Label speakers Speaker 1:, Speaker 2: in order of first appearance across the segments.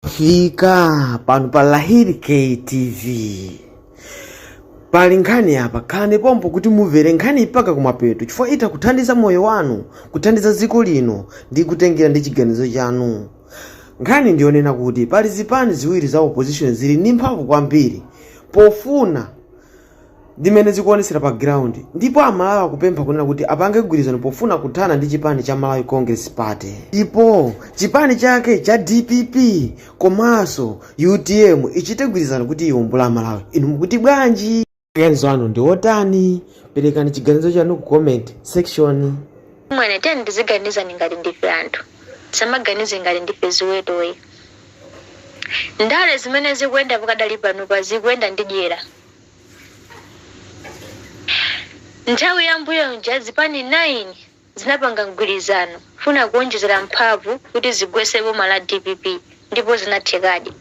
Speaker 1: fika pano pa lahiri ktv pali nkhani apa khalani pompo kuti mumvere nkhaniyi mpaka kumapeto chifukwa itha kuthandiza moyo wanu kuthandiza dziko lino ndi kutengera ndi chiganizo chanu nkhani ndiyonena kuti pali zipani ziwiri za opposition zili ndi mphamvu kwambiri pofuna ndi mmene zikuonetsera pa ground ndipo amalawi akupempha kunena kuti apange mgwirizano pofuna kuthana ndi chipani cha malawi congress party ndipo chipani chake cha dpp komanso utm ichite mgwirizano kuti iwombole amalawi inu mukuti bwanji maganizo anu ndi otani perekani chiganizo chanu ku comment section mwina
Speaker 2: tiyeni tiziganiza ngati ndife anthu tisamaganize ngati ndife ziweto ayi ndale zimene zikuyenda pakadali panopa zikuyenda ndi dyera Nthawi ya mbuyomuja zipani 9 zinapanga mgwirizano kufuna kuonjezera mphamvu kuti zigwetse boma la dpp ndipo zinathekadi.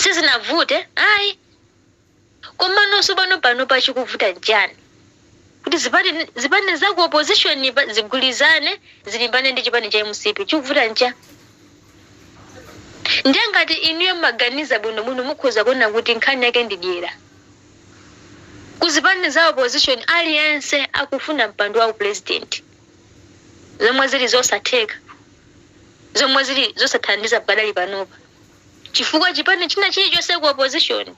Speaker 2: Sizinavute ayi. Komano sopano panopa chikuvuta nchani? Kuti zipani zipani za ku opposition pa- zigwirizane zilimbane ndi chipani cha mcp chikuvuta nchani ndiye ngati inuyo mmaganiza bwinobwino mukhoza kuona kuti nkhani yake ndi dyera ku zipani za opposition aliyense akufuna mpando wa upulezidenti zomwe zili zosatheka zomwe zili zosathandiza pakadali panopa chifukwa chipani china chilichonse ku opposition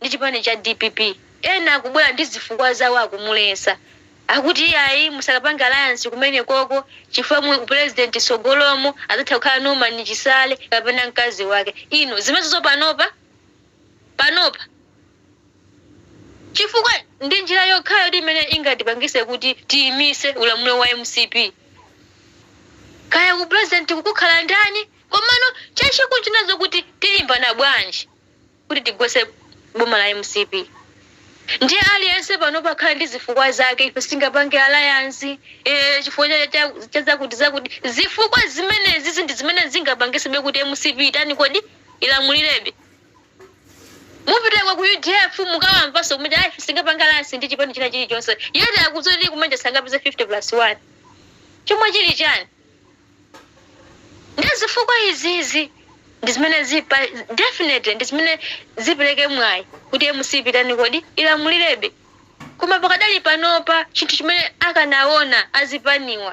Speaker 2: ndi chipani cha dpp ena akubwera ndi zifukwa zawo akumuletsa akuti iyayi musakapange alliance kumenekoko chifukwa mu upresident tsogolomu adzatha kukhala Norman Chisale kapena mkazi wake inu zimezozo panopa panopa chifukwa ndi njira yokhayo kuti imene ingatipangise kuti tiyimise ulamuliro wa mcp kaya ku president kukukhala ndani komano chachikulu chinazo kuti tilimbana bwanji kuti tigwetse boma la mcp ndiye aliyense panopa akukhala ndi zifukwa zake ife sitingapange alliance ee chifukwa cha- cha- cha zakuti zakuti zifukwa zimenezi ndi zimene zingapangitsebe kuti mcp itani kodi ilamulirebe mupitenso ku udf mukawamvanso kumene ife sitingapange alliance ndi chipani china chilichonse yeti akudziwa kuti kumanja sangapeze 50 plus 1 chomwe chili chani ndiye zifukwa izizi ndi zimene zipa definitely ndi zimene zipereke mwayi kuti mcp itani kodi ilamulirebe koma pakadali panopa chinthu chimene akanaona azipaniwa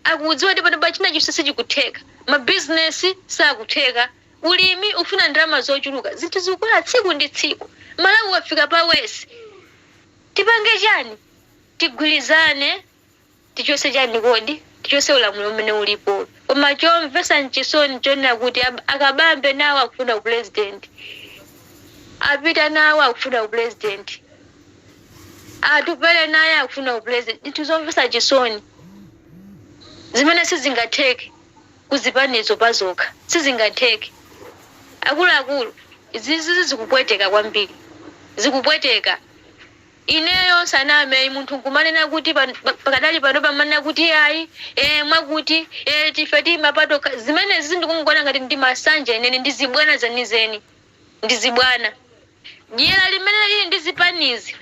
Speaker 2: akudziwa kuti panopa china chilichonse sichikutheka mabizinesi sakutheka ulimi ufuna ndalama zochuluka zinthu zikukwera tsiku ndi tsiku malawi wafika pa worse tipange chani tigwirizane Tichose chani kodi? Tichose ulamuliro umene ulipo. Koma chomvesa nchisoni nchonena kuti a Kabambe nawo akufuna u president. A Peter nawo akufuna u president. A Atupele naye akufuna u president. Ndinthu zomvesa chisoni zimene sizingatheke ku zipanizo pazokha. Sizingatheke. Akuluakulu izizi zikupweteka kwambiri. Zikupweteka. Ineyo ndisaname ayi munthu nkumanena kuti pakadali panopa amanena kuti ayi ee mwakuti ee ife tiima patokha zimenezi ndikungoona ngati ndi masanje enieni ndi zibwana zenizeni ndi zibwana dyera limene lili ndi zipanizi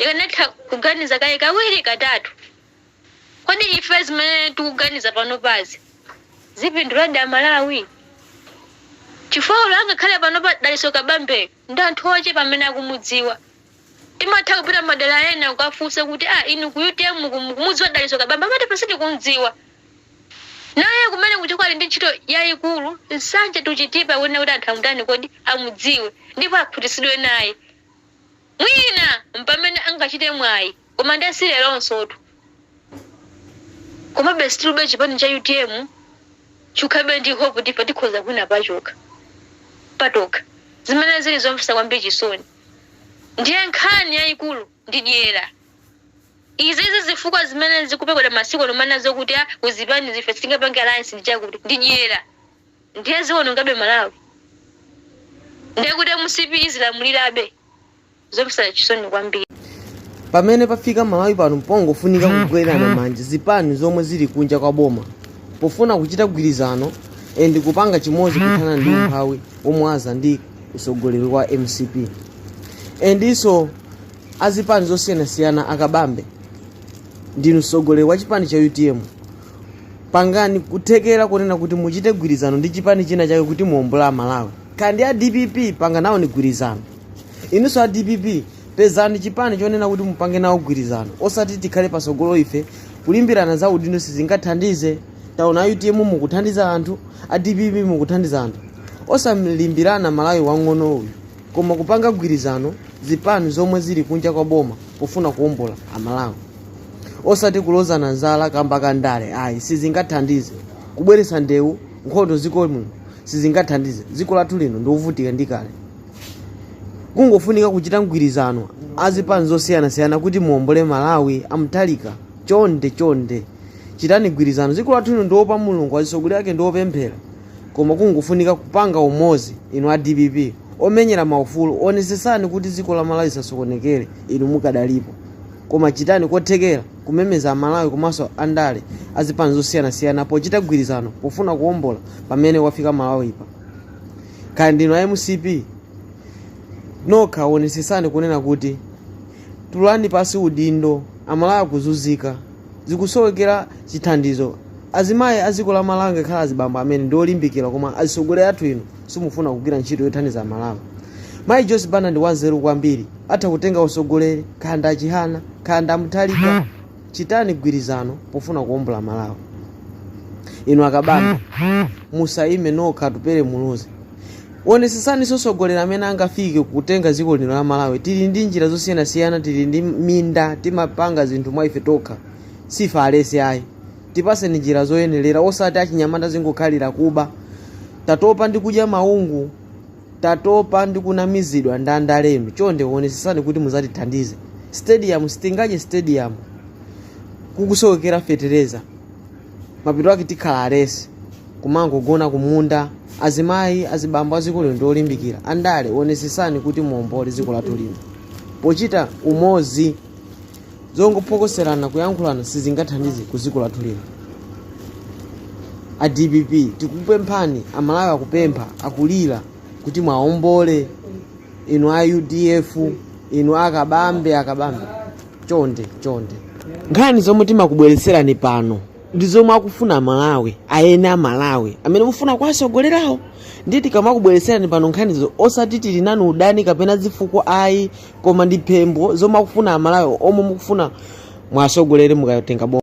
Speaker 2: akanatha kuganiza kaye kawiri katatu kodi ife zimene tikuganiza panopazi zipinduladi amalawi chifukwa olo angakhale panopa Dalitso Kabambeyo ndi anthu ochepa amene akumudziwa. Timatha kupita madera ena kukafunsa kuti ah inu ku utm ku mukumudziwa Dalitso Kabambe amati aa sitikumdziwa. Naye kumene kuchoka ali ndi ntchito yayikulu Nsanje to Chitipa ikuyenera kuti anthu amutani kodi? Amudziwe ndipo akhutitsidwe naye. Mwina mpamene angachite mwayi. Koma nde si leronsotu. Komabe stillbe chipani cha utm chikhalabe ndi hope kuti ife tikhoza kuwina pachokha patokha. Zimene zili zomvetsa kwambiri chisoni ndiye nkhani yayikulu ndi dyera. Izizi zifukwa zimene zikupekedwa masiku ano kumanena zokuti a ku zipanizi ife sitingapange alliance ndi chakuti ndi dyera. Ndiye ziwonongabe Malawi. Ndiye kuti mcp izilamulirabe. Zomvetsa chisoni
Speaker 1: kwambiri. Pamene pafika Malawi pano mpongofunika kugwirana manja zipani zomwe zili kunja kwa boma pofuna kuchita gwirizano and kupanga chimodzi kuthana ndi umphawi womwe waza ndi usogoleri wa mcp ndiso azipani zosiyanasiyana akabambe ndinu msogoleri wa chipani cha utm pangani kuthekera kunena kuti muchite gwirizano ndi chipani china chake kuti muombole amalawi kapena a dpp panganawoni gwirizano inunso a dpp pezani chipani chonena kuti mupange nawo gwirizano osati tikhale pasogolo ife kulimbirana za udindo sizingathandize taona utm mukuthandiza anthu a dpp mukuthandiza anthu osalimbirana malawi wang'ono uyu koma kupanga gwirizano zipani zomwe zili kunja kwa boma pofuna kuombola amalawi osati kulozana zala kamba ka ndale ayi sizingathandize kubweretsa ndewu nkhondo ziko muno sizingathandize ziko lathu lino ndi lovutika ndi kale kungofunika kuchita mgwirizano azipani zosiyanasiyana kuti muombole malawi a Mutharika chonde chonde chitani gwirizano dziko lathu lino ndiopa mulungu azisogoleri ake ndiopemphera koma kungofunika kupanga umozi inu a dpp omenyera maufulu onesesani kuti dziko la malawi lisasokonekere inu mukadalipo koma chitani kothekera kumemeza amalawi komanso andale azipani zosiyanasiyana pochita gwirizano pofuna kuombola pamene wafika malawipa kaya ndinu a mcp nokha wonesesani kunena kuti tulani pasi udindo amalawi akuzunzika zikusowekera chithandizo azimayi a dziko la malawi ngakhale azibambo amene ndi olimbikira koma azitsogolera athu inu simufuna kugwira ntchito yothandiza amalawi mayi joyce banda ndi wanzeru kwambiri atha kutenga usogoleri khanda achihana khanda a Mutharika chitani gwirizano pofuna kuombola malawi inu akabambe musayime nokha atupele muluzi onesesani sogoleri amene angafike kutenga dziko lino la malawi tili ndi njira zosiyanasiyana tili ndi minda timapanga zinthu mwa ife tokha sife alesi ayi tipaseni njira zoyenelera osati achinyamata zingokhalira kuba tatopa ndi kudya maungu tatopa ndi kunamizidwa ndi andale inu chonde wonesesani kuti muzatithandize stadium sitingadye stadium kukusowekera fetereza mapeto ake tikhala alesi kumangogona kumunda azimayi azibambo a ziko lino ndi olimbikira andale wonesesani kuti muombole dziko lathu lino pochita umozi zongophokoserana kuyankhulana sizingathandize ku dziko lathu lino a dpp tikupemphani amalawi akupempha akulira kuti mwaombole inu a udf inu akabambe akabambe chonde chonde nkhani zomwe timakubweretserani pano ndi zomwe akufuna amalawi eni amalawi amene mufuna kuwasogolerawo ndiye tikamakubweretserani pano nkhanizo osati tili nanu udani kapena zifukwa ayi koma ndi pempho zomwe akufuna amalawi omwe mukufuna mwasogolere mukatenga boma.